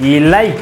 Ilay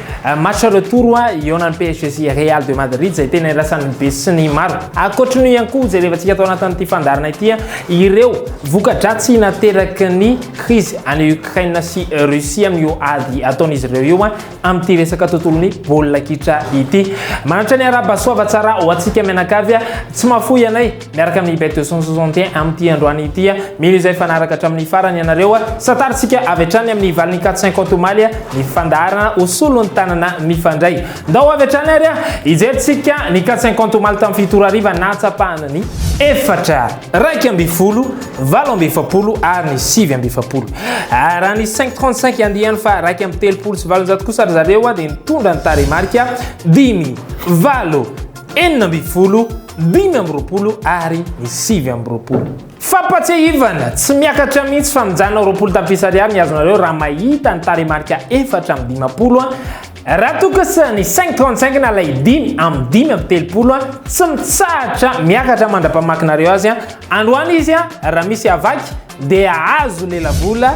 match retour a ihaonan'ny PSG sy Real de Madrid izay tena irasan'ny be sy ny maro. Ankoatry ny ihany koa jerevantsika tao anatin'ity fandaharana ity ireo voka-dratsy nateraky ny krizy any Ukraine sy Russie amin'io ady ataon'izy ireo io amin'ity resaka tontolon'ny baolina kitra ity. Manatra ny araba soava tsara ho antsika mianakavy, tsy mahafoy anay. Miaraka amin'ny Bet 261 amin'ity androany ity, mino izay fanaraka hatramin'ny farany ianareo. Santarintsika avy hatrany amin'ny valiny 450 omaly ny fandaharana ho solon'ny tanana mifandray. Ndao avy hatrany ary hijerintsika ny 450 omaly tamin'ny fito ora hariva nahatsapahana ny efatra, iraika ambin'ny folo, valo amby efapolo ary ny sivy amby efapolo. Ah, raha ny 535 andiany fa iraika amby telopolo sy valonjato kosa ry zareo dia nitondra ny tarehimarika dimy, valo, enina ambin'ny folo, dimy amby roapolo ary ny sivy amby roapolo. Fampatsiahivana, tsy miakatra mihitsy fa mijanona roapolo tapitrisa ariary ny azonareo raha mahita ny tarehimarika efatra amby dimampolo Raha toa kosa ny cinq trente cinq na ilay dimy amby dimy amby telopolo tsy mitsahatra miakatra mandra-pamakinareo azy androany izy raha misy havaky dia azo lelavola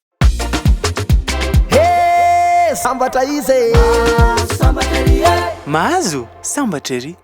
Hee sambatra izy e! Mahazo sambatra ery e! Mahazo sambatra ery!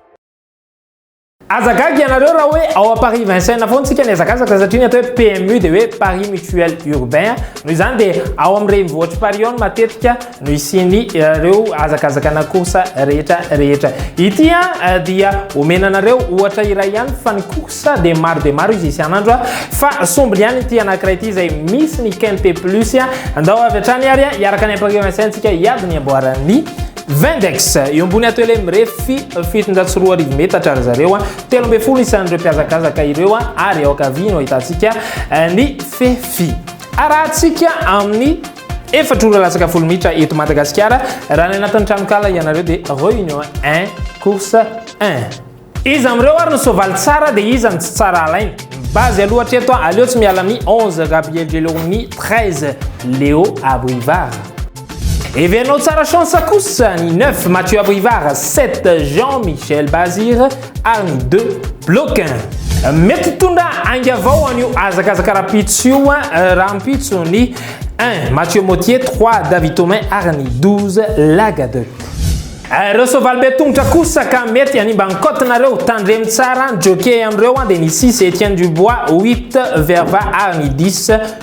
Aza gaga ianareo raha hoe ao à Paris Vincennes foana tsika nihazakazaka satria ny atao hoe PMU dia hoe Paris Mutuel Urbain noho izany dia ao amin'ny renivohitr'i Paris ao no matetika no hisiany ireo hazakazakana course rehetra rehetra ity a eh, dia omena anareo ohatra iray ihany fa ny course dia maro dia maro izy isan'andro fa sombiny ihany ity anankiray ity izay misy ny kempe plus a andao avy hatrany ary hiaraka ny ampakeo ansaintsika hiady ny amboaran'ny Vendex eo ambony ato ele mirefy fitonjatsy roa arivo metatra ry zareo telo ambin'ny folo isan'ireo mpiazakazaka ireo ary eo ankavia no ahitantsika eh, ny fefy arahantsika amin'ny Efatra ora latsaka folo minitra eto Madagasikara, raha any anatin'ny tranonkala ianareo dia réunion 1, course 1. Iza amin'ireo ary no soavaly tsara dia iza no tsy tsara alaina? Ny base aloha hatreto an, aleo tsy miala amin'ny 11 Gabriel Gelormini 13 Léo Abrivard. Heverinao tsara chance kosa ny 9 Mathieu Abrivard 7 Jean Michel Bazir ary ny de bloquin. Mety hitondra ainga vao an'io hazakazaka rahampitso io rahampitso ny 1 Mathieu Motier, 3 David Thomain ary ny 12 Lagadec. Ireo soavaly be tongotra kosa ka mety hanimba ny cote-nareo, tandremo tsara ny jockey amin'ireo dia ny 6 Etienne Dubois, 8 Verva ary ny 10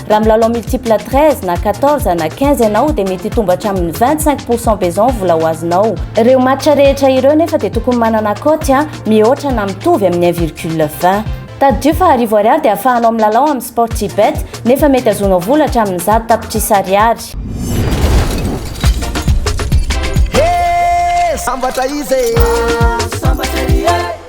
Raha milalao multiple 13 na 14 na 15 ianao dia mety hitombo hatramin'ny 25 pourcent besoin vola ho azonao. Ireo match rehetra ireo nefa dia tokony manana cote a mihoatra na mitovy amin'ny 1 virgule 20. Tadidio fa arivo ariary dia ahafahanao milalao amin'ny Sportybet nefa mety azonao vola hatramin'ny zato tapitrisa ariary. He! Sambatra izy e!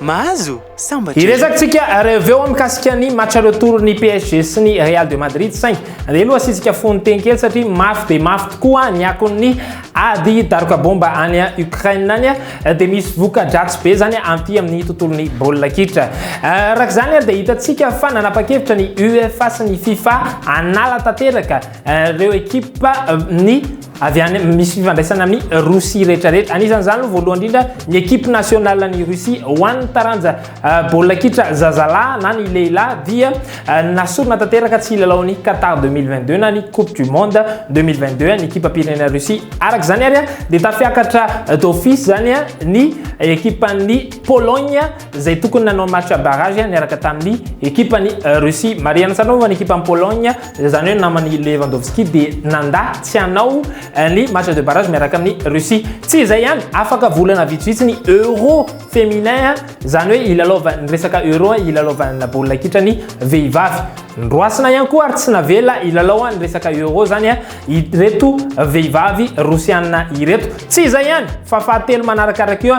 Mahazo? Sambatra izay. Hiresakintsika reveo ao mikasika ny match retour ny PSG sy ny Real de Madrid saingy andeha aloha asiantsika fono teny kely satria mafy dia mafy tokoa ny akon'ny ady daroka bomba any Ukraine any dia misy voka-dratsy be izany aty amin'ny tontolon'ny baolina kitra. Araka izany dia hitantsika fa nanapa-kevitra ny UEFA sy ny FIFA hanala tanteraka ireo ekipa ny avy any misy fifandraisana amin'ny Rosia rehetrarehetra. Anisan'izany aloha voalohany indrindra ny ekipe nationale ny Rosia ho an'ny taranja euh, baolina kitra zazalahy na ny lehilahy dia euh, nasorona tanteraka tsy hilalao ny Qatar 2022 na ny Coupe du Monde 2022 ny ekipam-pirenena Rosia. Araka izany ary dia tafiakatra euh, d'office izany ny ekipan'ny Pologne izay tokony nanao match barrage niaraka tamin'ny ekipan'i Russie. Marihana tsara moa ny ekipan'i Pologne, izany hoe naman'i Lewandowski dia nandà tsy hanao eh, ny match de barrage miaraka amin'i Russie. Tsy izay ihany, afaka volana vitsivitsy ny Euro féminin, izany hoe ilalaovan'ny resaka Euro, ilalaovan'ny baolina kitra ny vehivavy. Nroasina ihany koa ary tsy navela hilalao ny resaka Euro izany. Eh. ireto vehivavy rosiana ireto. Tsy izay ihany fa fahatelo manarakaraka eo,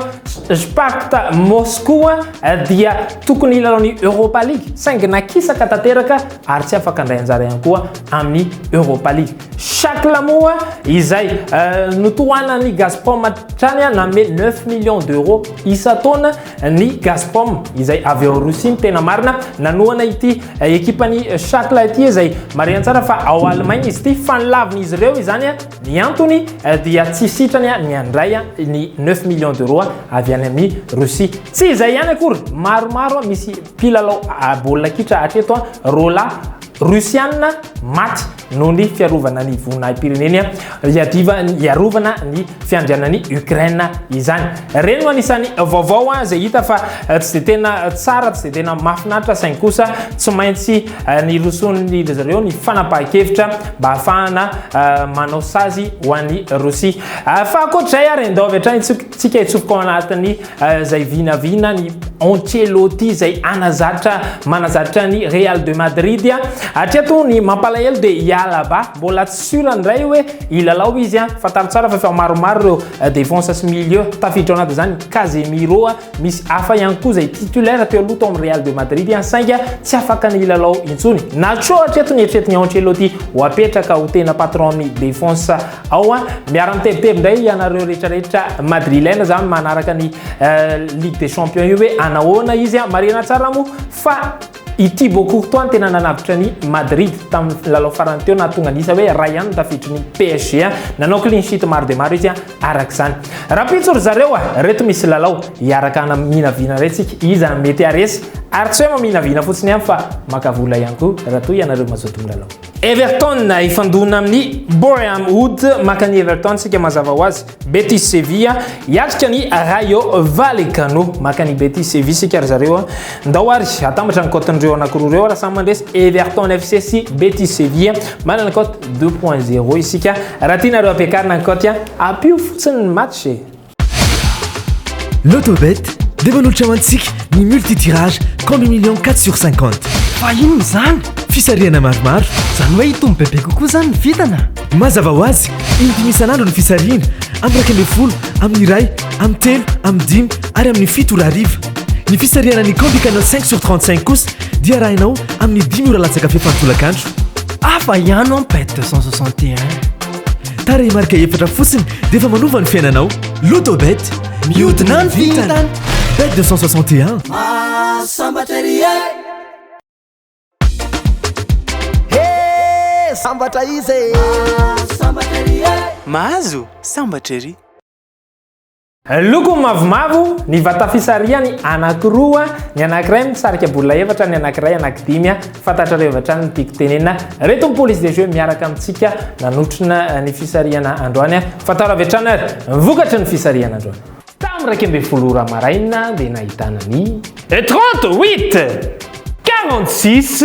Sparta Moscow dia tokony hilalao ny Europa League saingy nakisaka tanteraka ary tsy afaka handray anjara ihany koa amin'ny Europa League. Shakla moa izay notohanan'ny Gazprom hatrany nanome neuf millions d'euros isan-taona ny Gazprom izay avy ao Rosia ny tena marina nanohana ity ekipan'ny Shakla ity izay marihana tsara fa ao Allemagne izy ity fa nilavin'izy ireo izany ny antony dia tsy sitrany ny handray ny 9 millions d'euros avy any amin'ny Rosia. Tsy izay ihany akory, maromaro misy mpilalao baolina kitra hatreto roalahy Rosiana maty. noho ny fiarovana ny voninahi-pireneny hiadivan'ny hiarovana ny fiandrianan'i Ukraine izany. Ireny no anisan'ny vaovao izay hita fa eh, tsy dia tena tsara, tsy dia tena mahafinaritra saingy kosa tsy maintsy eh, ny roson'ny zareo ny fanapahan-kevitra mba hahafahana eh, manao sazy ho an'i Rosia. Fa ankoatr'izay ary endao avy hatrany tsika itsopoko ao anatin'ny izay vinavina ny Ancelotti izay anazatra manazatra ny Real de Madrid hatreto ny mampalahelo dia i Alaba mbola tsy sûr ndray hoe hilalao izy a fantaro tsara fa efa maromaro ireo euh, défense sy milieu tafiditra anaty izany Casemiro misy hafa ihany koa izay titulaire teo aloha tao amin'ny Real de Madrid sainga tsy afaka ny hilalao intsony Nacho hatreto ny eritreritiny Ancelotti ho apetraka ho tena patron ny défense Ao an, miara mitebiteby indray ianareo rehetra rehetra madrilène zany manaraka ny Ligue des Champions io hoe anahoana izy an. Marihina tsara moa fa i Thibaut Courtois no tena nanavotra ny Madrid tamin'ny lalao farany teo nahatonga ny isa hoe iray ihany ny tafiditry ny PSG an. Nanao clean sheet maro dia maro izy an araka izany. Rahampitso ry zareo an, ireto misy lalao hiaraka hanaminavina indray tsika iza no mety haharesy ary tsy hoe maminavina fotsiny ihany fa maka vola ihany koa raha toa ianareo mazoto milalao. Everton hifandona amin'ny Boreham Wood maka ny Everton sika mazava ho azy Betis Sevilla hiatrika ny Rayo Vallecano maka ny Betis Sevilla sika ry zareo ndao ary atambatra ny cote-n'ireo anankiroa ireo raha samy mandresy Everton FC sy Betis Sevilla manana cote 2.0 isika raha tianareo ampiakarina ny cote ampio fotsiny ny match e Lotobet dia manolotra ho antsika ny multi-tirage compte million 4 sur 50. Fa inona izany? Fisarihana maromaro. Izany hoe hitombo bebe kokoa izany ny vintana? Mazava ho azy, in-dimy isan'andro ny fisarihana, amin'ny iraika ambin'ny folo, amin'ny iray, amin'ny telo, amin'ny dimy ary amin'ny fito ora hariva. Ny fisarihana ny Combi Canal 5 sur 35 kosa dia arahinao amin'ny dimy ora latsaka fefany tolakandro. Hafa ihany an bet 261. Tarehimarika efatra fotsiny dia efa manova ny fiainanao. Lotobet, mihodina ny vintana. Bet 261. Sambatra ry e. He, sambatra izy e. Sambatra ry e. Mahazo sambatra ry. Loko mavomavo ny vatafisarihany anankiroa, ny anankiray misarika bola efatra, ny anankiray anankidimy. Fantatrareo avy hatrany ny tiako tenenina. Reto ny police de jeu miaraka amintsika nanotrona ny fisarihana androany. Fantaro avy hatrany ary ny vokatry ny fisarihana androany. Tamin'ny iraika ambin'ny folo ora maraina dia nahitana ny. Trente-huit! Quarante-six!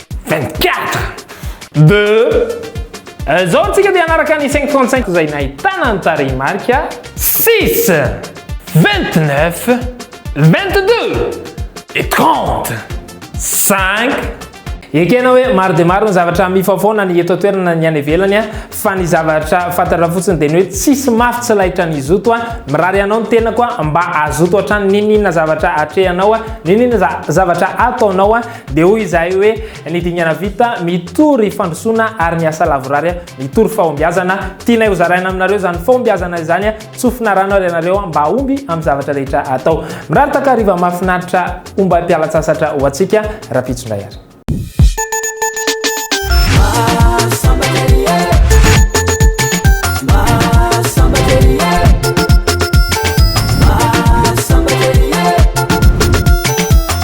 24 de Izao antsika dia hanaraka ny 535 izay nahitana ny tarehimarika 6 29 22 et 30 5 Ekena hoe maro dia maro ny zavatra mifaofaona ny eto an-toerana ny any ivelany a, fa ny zavatra fantatra fotsiny dia ny hoe tsisy mafy tsy lahitra ny zoto a, mirary anao ny tenako a, mba hazoto hatrany n'inon'inona zavatra atrehanao a, n'inon'inona zavatra ataonao a, Dia hoy izahay hoe, Ny dingana vita, mitory fandrosoana, ary ny asa lavorary, mitory fahombiazana. Tianay hozaraina aminareo izany fahombiazana izany. Tsofina rano ary ianareo mba hahomby amin'ny zavatra rehetra atao. Mirary takariva mahafinaritra ombam-pialan-tsasatra ho antsika rahampitso indray ary.